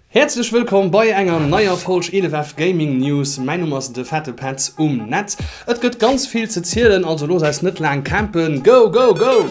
Häerzlech wëllkomm bei enger neier Folg 11F Gaming News. Mäin Numm ass de Fette Petz um Netz. Et gëtt ganz vill ze zielen, also looss äis net laang campen. Go, go, go!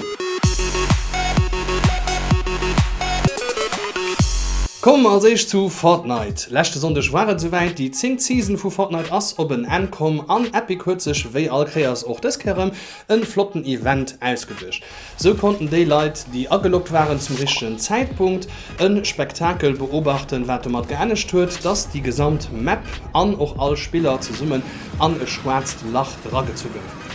Kommen mer als éischt zu Fortnite. Leschte Sonndeg war et souwäit, déi zéngt Season vu Fortnite ass op en Enn komm an Epic huet sech wéi all Kéiers och dës Kéier erëm e flotten Event ausgeduecht. Sou konnten déi Leit, déi ageloggt waren, zum richtegen Zäitpunkt e Spektakel beobachten, wat domat geenegt huet, dass déi gesamt Map an och all Spiller zesummen an e schwaarzt Lach eragezu gouf.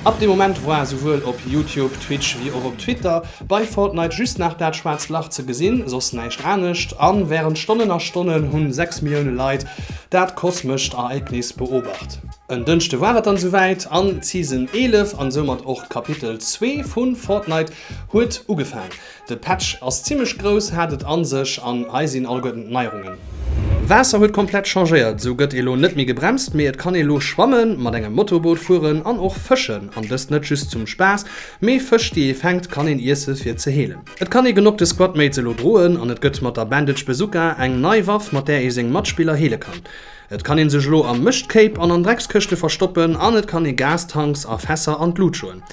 Ab deem Moment war souwuel op Youtube, Twitch wéi och op Twitter bei Fortnite just nach dat schwaarzt Lach ze gesinn, soss näischt anescht, a wärend Stonnen a Stonnen hu 6 Millioune Leit dat kosmescht Ereignis beobacht. En Dënschde war et dann esouwäit an d'Season 11 an soumat och d'Kapitel zwee vu Fortnite huet ugefaang. De Patch ass zimmlech grouss, hat et an sech an hei sinn alleguerten d'Neierungen. Waasser huet komplett changéiert, esou gëtt ee lo net méi gebremst, mee et kann ee lo schwammen, mat engem Motorboot fueren an och fëschen. An dëst net just zum Spaass, mee Fësch déi ee fänkt kann een iesse fir ze heelen. Et kann ee genok de Squadmates elo droen an et gëtt mat der Bandage Bazooka eng nei Waff mat där ee seng Matspiller heele kann. Et kann een sech elo am Mëschtkéip an an Dreckskëschte verstoppen an et kann ee Gastanks a Fässer an d'Lut schloen.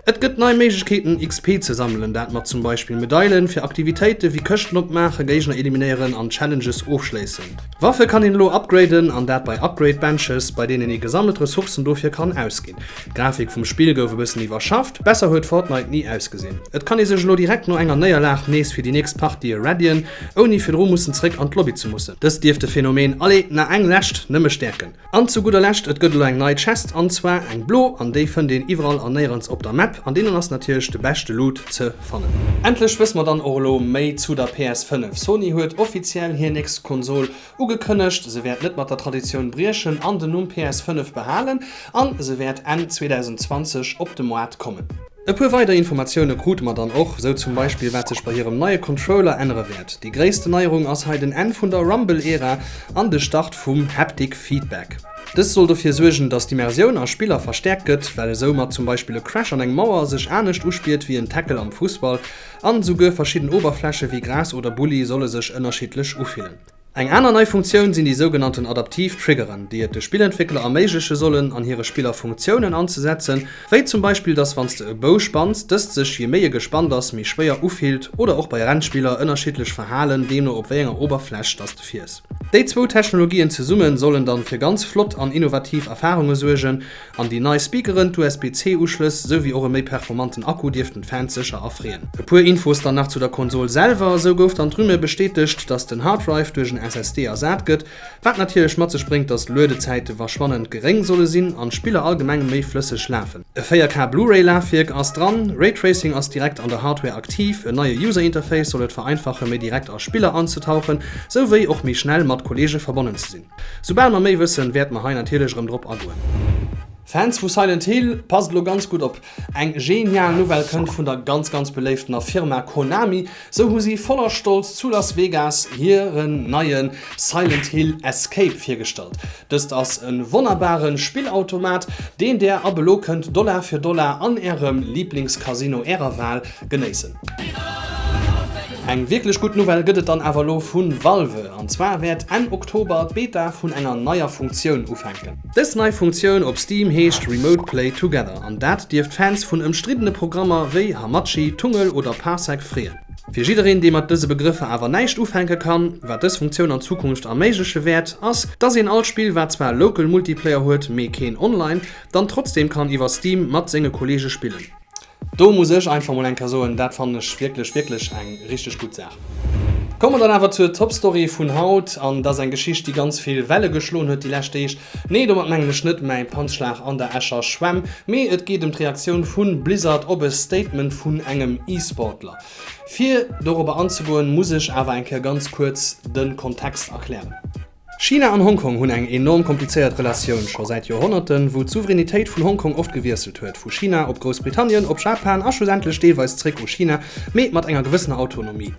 Et gëtt nei Méiglechkeeten XP ze sammelen, dat mat zum Beispill Medailen fir Aktivitéite wéi Këschten opmaachen, Géigner eliminéieren an Challenges ofschléissen. Waffe kann een elo upgraden an dat bei Upgrade Benches, bei deenen ee gesammelt Ressourcen dofir kann ausginn. D'Grafik vum Spill gouf e bëssen iwwerschafft, besser huet Fortnite ni ausgesinn. Et kann ee sech elo direkt no enger Néierlag nees fir déi nächst Partië readyen, ouni virdru mussen zréck an d'Lobby ze mussen. Dëst dierft de Phänomen Allez, na eng lescht! nëmme stäerken. An zu gudder Lescht, et gëtt elo eng nei Chest, an zwar eng blo, an déi fënnt een iwwerall a néierens op der Map, an deenen ass natierlech de beschte Loot ze fannen. Endlech wësse mer dann och elo méi zu der PS5. Sony huet offiziell hir nächst Konsol Ugekënnegt, se wäert net mat der Traditioun briechen an den Numm PS 5 behalen an se wäert Enn 2020 op de Moart kommen. E puer weider Informatioune krute mer dann och, sou zum Beispill wat sech bei hirem neie Controller ännere wäert. Déi gréissten Neierung ass hei den Enn vun der Rumble-Ära an de Start vum Haptic Feedback. Dëst soll dofir suergen, datt d'Immersioun a Spiller verstäerkt gëtt, well esou mat zum Beispill e Crash an eng Mauer sech anescht uspiert wéi en Tackle am Fussball an esouguer verschidden Oberfläche wéi Gras oder Bulli solle sech ënnerschiddlech ufillen. Eng aner nei Funktioun sinn déi sougenannten adaptiv Triggeren, déi et de Spillentwéckler erméigleche sollen an hire Spiller Funktiounen anzesetzen, wéi zum Beispill dass wann s de e Bou spanns, dëst sech, jee méi e gespannt ass, méi schwéier ufillt, oder och bei Rennspiller ënnerschiddlech verhalen, deemno op wéi enger Oberfläch dass de fiers. Déi zwou Technologien zesumme sollen dann fir ganz flott an innovativ Erfarunge suergen, An déi nei Speakeren, d'USB-C-Uschlëss, esou wéi och e méi performanten Akku dierften d'Fans sécher erfreeën. E puer Infos dann nach zu der Konsol selwer, Esou gouf dann d'Rumeur bestätegt, dass den Harddrive duerch en SSD ersat gëtt, wat natierlech mat sech bréngt, dass d'Luedezäite verschwannend geréng solle sinn an d'Spiller allgemeng méi flësseg lafen. E 4K Blu-ray Lafwierk ass dran, Raytracing ass direkt an der Hardware aktiv, en neie User Interface soll et vereinfachen méi direkt a Spiller anzetauchen, esou wéi och méi schnell mat Kolleege verbonnen ze sinn. Soubal mer méi wëssen, wäerte mer hei natierlech erëm drop agoen. Fans vu Silent Hill, passt elo ganz gutt op. Eng genial Nouvelle kënnt vun der ganz ganz beléiftener Firma Konami. Sou hu si voller Stolz zu Las Vegas hiren neie Silent Hill Escape virgestallt. Dëst ass e wonnerbare Spillautomat, deen Där ab elo kënnt Dollar fir Dollar an Ärem Lieblingscasino Ärer Wahl genéissen. Eng wierklech gutt Nouvelle gëtt et dann awer elo vu Valve, an zwar wäert Enn Oktober d'Beta vun enger neier Funktioun ufänken. Dës nei Funktioun op Steam heescht Remote Play Together, an dat dierft Fans vun ëmstriddene Programmer wéi Hamachi, Tungl oder Parsec freeën. Fir jiddereen, dee mat dëse Begrëffer awer näischt ufänke kann, wat dës Funktioun an Zukunft erméigleche wäert, ass, dass een alt Spill, wat zwar Local Multiplayer huet, mee keen Online, dann trotzdeem kann iwwer Steam mat senge Kolleege spillen. Do muss ech einfach mol enker soen, dat fannen ech wierklech, wierklech eng richteg gutt Saach. Komme mer dann awer zur Topstory vun haut, an et ass eng Geschicht, déi ganz vill Welle geschloen huet déi lescht Deeg. Nee, domat mengen ech net mäi Panzschlag an der Escher Schwämm, mee et geet ëm d'Reaktioun vu Blizzard op e Statement vun engem E-Sportler. Fir dorobber anzegoen, muss ech awer eng Kéier ganz kuerz de Kontext erklären. China an Hongkong hunn eng enorm komplizéiert Relatioun, scho säit Joerhonnerten, wou d'Souveränitéit vun Hongkong oft gewiesselt huet, vu China op Groussbritannien, op Japan a schlussendlech deelweis zréck u China, mee mat enger gewëssener Autonomie.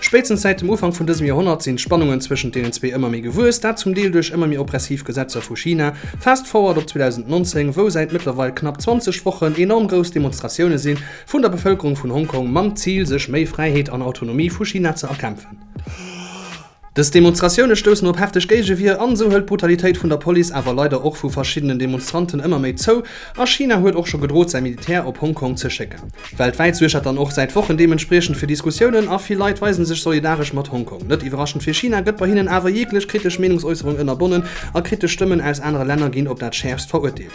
Spéitstens säit dem Ufank vun dësem Joerhonnert sinn d'Spannungen zwëschent deenen zwee ëmmer méi gewuess, dat zum Deel duerch ëmmer méi oppressiv Gesetzer vu China, fast forward op 2019, wou säit mëttlerweil knapp 20 Wochen enorm grouss Demonstratioune si vun der Bevëlkerung vun Hongkong mam Zil, sech méi Fräiheet an Autonomie vu China ze erkämpfen. Dës Demonstratioune stoussen op hefteg Géigewier an esou hëlt d'Brutalitéit vun der Police awer leider och vu verschiddenen Demonstranten ëmmer méi zou a China huet och scho gedrot säi Militär op Hong Kong ze schécken. Weltwäit suergt dat dann och säit Wochen deementspriechend fir Diskussiounen a vill Leit weise sech solidaresch mat Hong Kong. Net iwwerraschend fir China gëtt bei hinnen awer jeeglech kritesch Meenungsäusserung ënnerbonnen a kritesch Stëmmen aus anere Länner ginn op dat schäerfst verurteelt.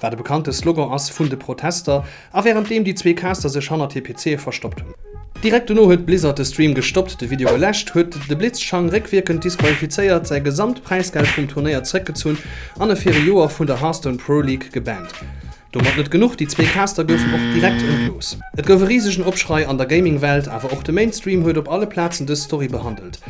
Wat e bekannte Slogan ass vun de Protester, a wärend deem déi zwee Caster sech hannert hir PCe verstoppt hunn. Direkt dono huet Blizzard de Stream gestoppt, de Video geläscht, huet de Blitzchang réckwierkend disqualifizéiert, säi gesamt Präisgeld vum Turnéier zréckgezunn an e fir e Joer vun der Hearthstone Pro League gebannt. Domat net genuch, déi zwee Caster goufen och direkt entlooss. Et gouf e risegen Opschrei an der Gaming-Welt, awer och de Mainstream huet op alle Plazen dës Story behandelt.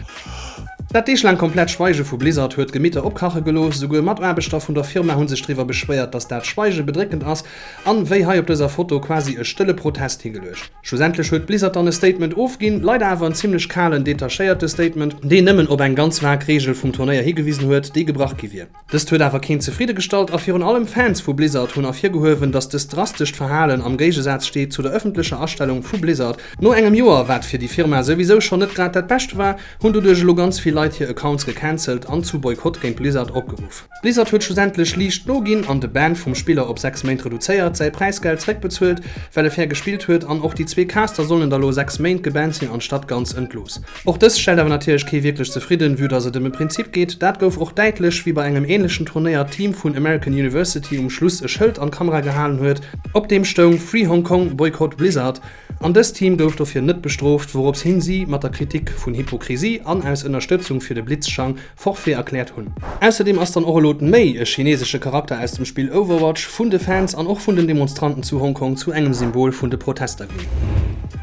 Dat deeglaang komplett Schweige vu Blizzard huet d'Gemitter opkache gelooss. Souguer Mataarbechter vun der Firma hu sech driwwer beschwéiert, datt dat Schweige bedréckend ass an, wéi hei op dëser Foto, quasi e stëlle Protest higeluecht. Schlussendlech huet Blizzard dann e Statement ofginn, leider awer en zimmlech kalen, detachéierte Statement, deen nëmmen op eng ganz vag Reegel vum Turnéier higewisen huet, déi gebrach gi wier. Dëst huet awer keen zefridde gestallt a virun allem Fans vu Blizzard hunn ervirgehuewen, datt dëst drastescht Verhalen am Géigesaz steet zu der ëffentlecher Astellung vu Blizzard. No engem Joer, wat fir déi Firma souwisou schonn net grad dat Bescht war, hunn doduerch elo ganz vill Leit hir Accounts gecancelt an zu Boykott géint Blizzard opgeruff. Blizzard huet schlussendlech liicht noginn an de Ban vum Spiller op 6 Méint reduzéiert, säi Präisgeld zréckbezuelt, well e fair gespillt huet an och déi zwee Caster sollen da lo 6 Méint gebannt sinn anstatt ganz entlooss. Och dëst stellt awer natierlech kee wierklech zefridden, vue dass et ëm e Prinzip geet. Dat gouf och däitlech, wéi bei engem änlechen Turnéier d'Team vun American University um Schluss e Schëld an d'Kamera gehalen huet, op deem stoung Free Hong Kong, Boycott Blizzard. An dëst Team gouf dofir net bestrooft, wouropshin si mat der Kritik vun Hypokrisie an aus Ënnerstëtzung fir de Blitzschang Forfait erkläert hunn. Ausserdeem ass dann och elo d'Méi e chinesesche Charakter aus dem Spill Overwatch vun de Fans an och vun den Demonstranten zu Hong Kong zu engem Symbol vun de Protester ginn.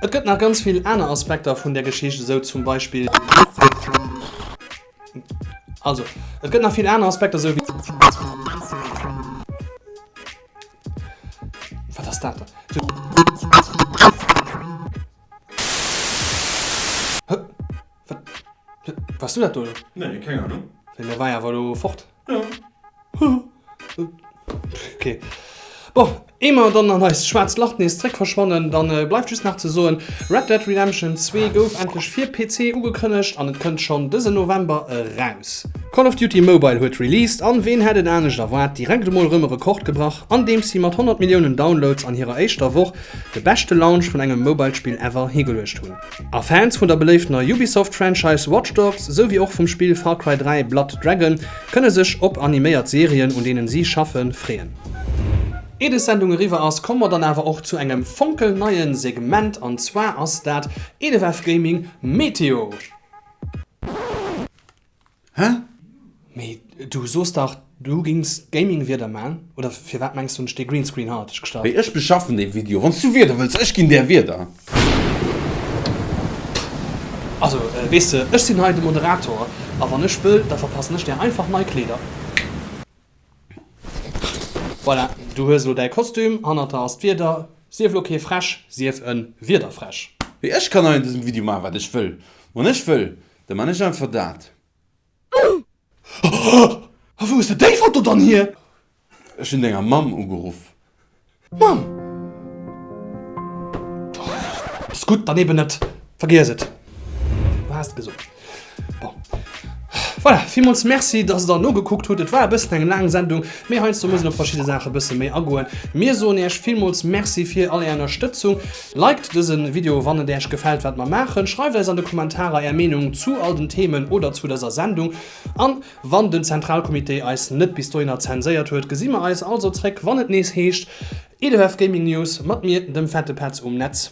Et gëtt nach ganz vill aner Aspekter vun der Geschicht, esou zum Beispill d'Pressefräiheet. Wars du dat do elo? Nee, keng Ahnung. Mee mir war jo awer elo fort. Jo. Ok. Bon, ee mer dann an eist schwaarzt Lach nees zréck verschwannen, dann bleift just nach ze soen, Red Dead Redemption 2 gouf endlech fir PC ugekënnegt an et kënnt schonn dësen November eraus. Call of Duty Mobile huet released an ween hätt et anescht erwaart, direkt emol erëm e Rekord gebrach, andeems si mat 100 Milliounen Downloads an hirer éischter Woch de beschte Launch vun engem Mobile-Spill ever higeluecht hunn. A Fans vun der beléiftener Ubisoft-Franchise Watch Dogs, esou wéi och vum Spill Far Cry 3, Blood Dragon, kënne sech op animéiert Serien, un deenen si schaffe, freeën. Ier des Sendung eriwwer ass, komme mer dann awer och zu engem fonkelneie Segment, an zwar ass dat Elefv Gaming Meteo. Hä? Mee du soos dach du gings Gaming wieder maan, oder firwaat mengs du hunn ech dee Greenscreen haerteg gestalt? Ech beschaffen dee Video wanns du wieder wëlls, ech ginn der wieder. Also wees de ech sinn hei de Moderator a wann ech wëll da verpassen ech der einfach nei Kleeder. Voilà du hues elo däi Kostüm, hannert der ass d'Wieder, sief elo kee Fräsch, sief en Wiederfräsch. Mee ech kann hei an dësem Video maachen wat ech wëll, wann ech wëll, Da man ech einfach dat. A wou hues de déi Foto dann hier? Ech hun denger Mamm ugeruff. Mamm! Ass gudd, dann eben net. Vergiess et. Du haas et gesot. Bon. Voilà, villmools Merci, dass der nogekuckt hutt. Et war e bëssen eng laang Sendung, mee heiansdo muss een op verschidde Saache bësse méi agoen. Mir soen Iech villmools Merci fir all Är Ënnerstëtzung. Liked dësen Video wann et äerch gefällt wat mer maachen, schreiwt eis an de Kommentarer äer Meenung zu all den Themen oder zu dëser Sendung an wann den Zentralcomité eis net bis dohinner zenséiert huet gesi mer eis also zréck wann et nees heescht EDF Gaming News mat mir dem Fette Petz um Netz.